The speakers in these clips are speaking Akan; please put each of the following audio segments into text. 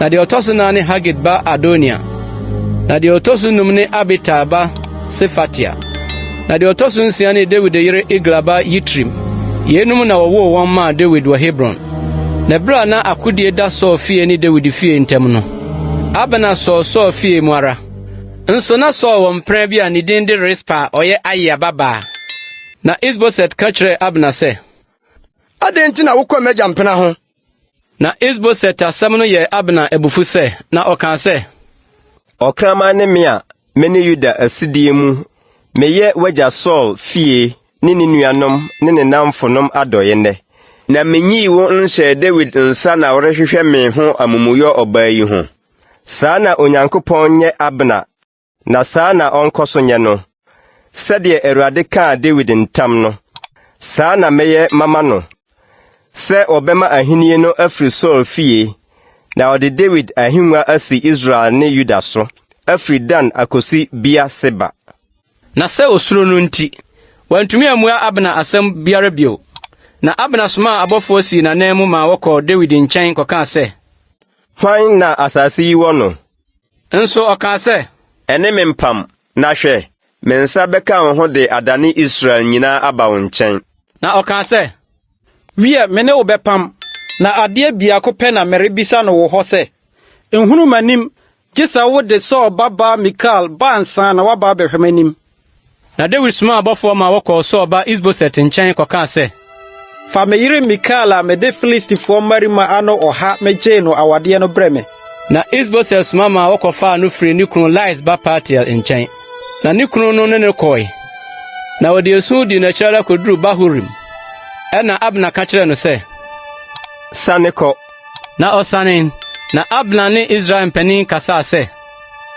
Na deɛ ɔtɔ so nan ne Hagit ba Adonia. Na deɛ ɔtɔ so num ne Abital ba Sefatia. Na deɛ ɔtɔ so nsia ne Dawid yere Egla ba Yitream. Yeinom na wɔwoo wɔn maa Dawid wɔ Hebron. Na ɛberɛ a na akodie da Saul fie ne Dawid fie ntam no, Abner sɔɔ Saul fie mu ara. Nso na Saul wɔ mpena bi a ne din de Rispa a ɔyɛ Aia babaa. Na Is-Boset ka kyerɛɛ Abner sɛ, Adɛn nti na wokɔ m'agya mpena ho? Na Is-Boset asɛm no yɛɛ Abner abufuw sɛ, na ɔkaa sɛ. Ɔkraman ne me a me ne Yuda asedee mu, meyɛ w'agya Saul fie ne ne nuanom ne ne nnamfonom adɔe nnɛ. Na minyii wo nhyɛɛ Dawid nsa na worehwehwɛ me ho amumuyɔ ɔbaa yi ho? Saa na Onyankopɔn nyɛ Abner. Na saa na ɔnkɔ so nyɛ no, sɛdeɛ Awurade kaa Dawid ntam no, saa na mɛyɛ mama no, sɛ wɔbɛma ahennie no afiri Saul fie, na ɔde Dawid ahennwa asi Israel ne Yuda so, afiri Dan akɔsi Beer-Seba. Na sɛ osuro no nti, wantumi ammua Abner asɛm biara bio. Na Abner somaa abɔfoɔ sii n'ananmu maa wɔkɔɔ Dawid nkyɛn kɔkaa sɛ. Hwan na asase yi wɔ no? Nso ɔkaa sɛ. Ɛne me mpam, na hwɛ, me nsa bɛka wo ho de adane Israel nyinaa aba wo nkyɛn. Na ɔkaa sɛ, Wiɛ, me ne wo bɛpam, na adeɛ biako pɛ na merebisa no wo hɔ sɛ, nhunu m'anim, gye sɛ wode Saul babaa Mikal ba ansa na woaba abɛhwɛ m'anim. Na Dawid somaa abɔfoɔ ma wɔkɔɔ Saul ba Is-Boset nkyɛn kɔkaa sɛ. Fa me yere Mikal a mede Filistifoɔ mmarima ano ɔha megyee no awadeɛ no brɛ me. Na Is-Boset soma ma wɔkɔfaa no firii ne kunu Lais ba Paltiel nkyɛn, na ne kunu no ne no kɔe. Na wɔde esu dii n'akyi ara kɔduruu Bahurim. Ɛnna Abner ka kyerɛɛ no sɛ. Sane kɔ. Na ɔsanee. Na Abner ne Israel mpanin kasaa sɛ.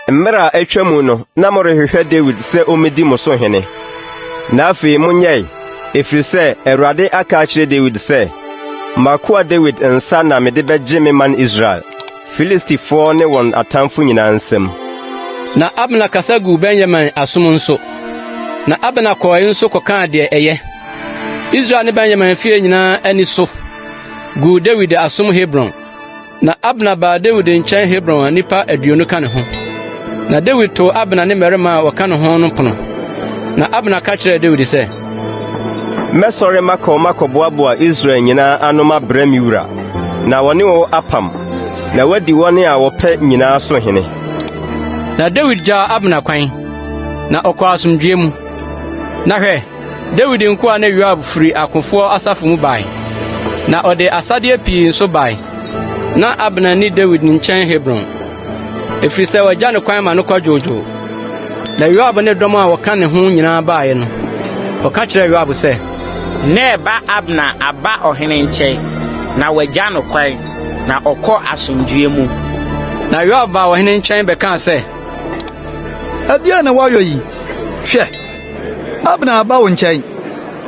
Mmere a atwa mu no, na morehwehwɛ Dawid sɛ ommedi mo so hene. Na afei monyɛe, ɛfiri sɛ Awurade aka akyerɛ Dawid sɛ, 'M'akoa Dawid nsa na mede bɛgye me man Israel, Filistifoɔ ne wɔn atamfo nyinaa nsam. Na Abner kasa guu Benyamin asom nso. Na Abner kɔe nso kɔkaa deɛ ɛyɛ Israel ne Benyamin fie nyinaa ani so guu Dawid asom Hebron. Na Abner baa Dawid nkyɛn Hebron a nnipa aduonu ka ne ho. Na Dawid too Abner ne mmarima a wɔka ne ho no pono. Na Abner ka kyerɛɛ Dawid sɛ, Mɛsɔre makɔ makɔboaboa Israel nyinaa ano mabrɛ me wura, na wɔne wo apam, na woadi wɔn a wɔpɛ nyinaa so hene. Na Dawid gyaa Abner kwan, na ɔkɔɔ asomdwoe mu. Na hwɛ, Dawid nkoa ne Yoab firi akofoɔ asafo mu bae, na ɔde asadeɛ pii nso bae. Na Abner nni Dawid nkyɛn Hebron, ɛfiri sɛ wagya no kwan ma no kwadwoodwoo. Na Yoab ne dɔm a wɔka ne ho nyinaa baeɛ no, ɔka kyerɛɛ Yoab sɛ, Ner ba Abner aba ɔhene nkyɛn, na wagya no kwan, na ɔkɔ asomdwoeɛ mu. Na Yoab baa ɔhene nkyɛn bɛkaa sɛ, Ɛdeɛn na woayɔ yi? Hwɛ! Abner aba wo nkyɛn.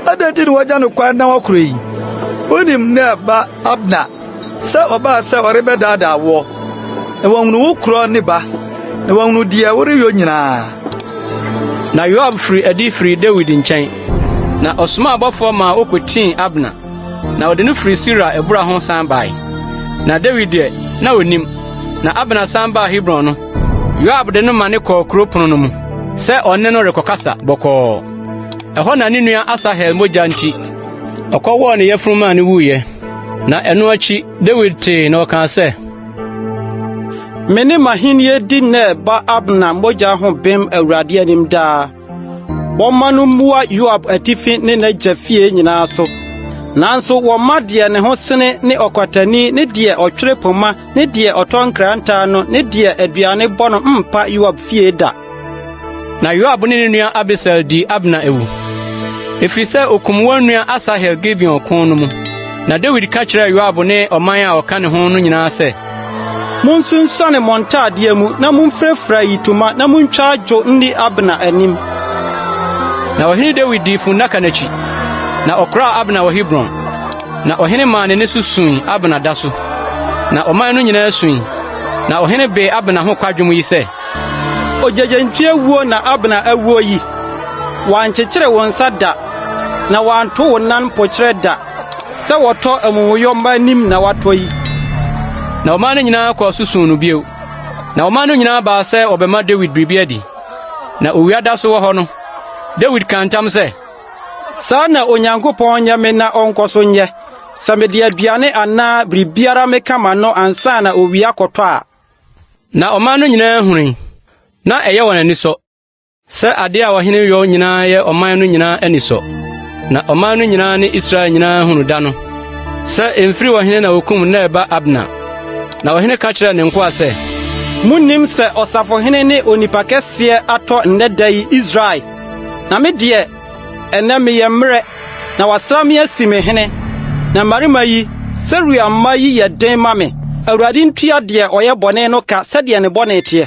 Adɛn nti na wɔagya no kwan na wɔkorɔ yi? Wonim nea ɛba Abner sɛ ɔbaa sɛ ɔrebɛdaadaa woɔ, na wahunu wo korɔ ne ba, na wahunu deɛ woreyɔ nyinaa. Na Yoab firi adi firii Dawid nkyɛn, na ɔsomaa abɔfoɔ maa wɔkɔtii Abner. Na wɔde no firii Sira abura ho san bae. Na Dawid deɛ, na ɔnim. Na Abner san baa Hebron no, Yoab de no ma ne kɔɔ kuro pono no mu sɛ ɔne no rekɔkasa bɔkɔɔ. Ɛhɔ na ne nua Asahel mogya nti, ɔkɔwɔɔ ne yafunu maa no wuiɛ. Na ɛno akyi, Dawid tee na ɔkaa sɛ, Me ne m'ahenni di Ner ba Abner mogya ho bem Awurade anim daa. Wɔmma no mmua Yoab atifi ne n'agya fie nyinaa so. Nanso wɔmma deɛ ne ho sene ne ɔkwatani ne deɛ ɔtwere poma ne deɛ ɔtɔ nkrantaa no ne deɛ aduane bɔ no mpa Yoab fie da. Na Yoab ne ne nua Abisai dii Abner awu, ɛfiri sɛ ɔkum wɔn nua Asahel Gibeon ko no mu. Na Dawid ka kyerɛɛ Yoab ne ɔman a ɔka ne ho no nyinaa sɛ, Monsunsuane mo ntaadeɛ mu na momfirafira ayitoma na montwa adwo nni Abner anim. Na ɔhene Dawid dii funnaka no akyi, na ɔkoraa Abner wɔ Hebron. Na ɔhene maa n'ani so sui Abner da so, na ɔman no nyinaa sui. Na ɔhene bee Abner ho kwadwom yi sɛ, Ogyegyentwie wuo na Abner awuo yi! Wɔankyekyere wo nsa da, na wɔanto wo nan mpokyerɛ da. Sɛ wɔtɔ amumuyɔmma anim na watɔ yi. Na ɔman no nyinaa kɔɔ so suu no bio. Na ɔman no nyinaa baa sɛ wɔbɛma Dawid biribi adi. Na owia da so wɔ hɔ no, Dawid kaa ntam sɛ. Saa na Onyankopɔn nyɛ me na ɔnkɔ so nyɛ, sɛ mede aduane anaa biribiara meka m'ano ansa na owia akɔtɔ a. Na ɔman no nyinaa hunui, na ɛyɛ wɔn anisɔ. Sɛ ade a ɔhene yɔ nyinaa yɛ ɔman no nyinaa anisɔ, na ɔman no nyinaa ne Israel nyinaa hunu da no sɛ emfiri ɔhene na okum Ner ba Abner. Na ɔhene ka kyerɛɛ ne nkoa sɛ, Munnim sɛ ɔsafohene ne onipa kɛseɛ atɔ nnɛ da yi Israel? Na me deɛ, ɛnnɛ meyɛ mmerɛ, na wɔasra me asi me hene. Na mmarima yi, Seruia mma yi yɛ den ma me. Awurade ntua deɛ ɔyɛ bɔne no ka sɛdeɛ ne bɔne teɛ.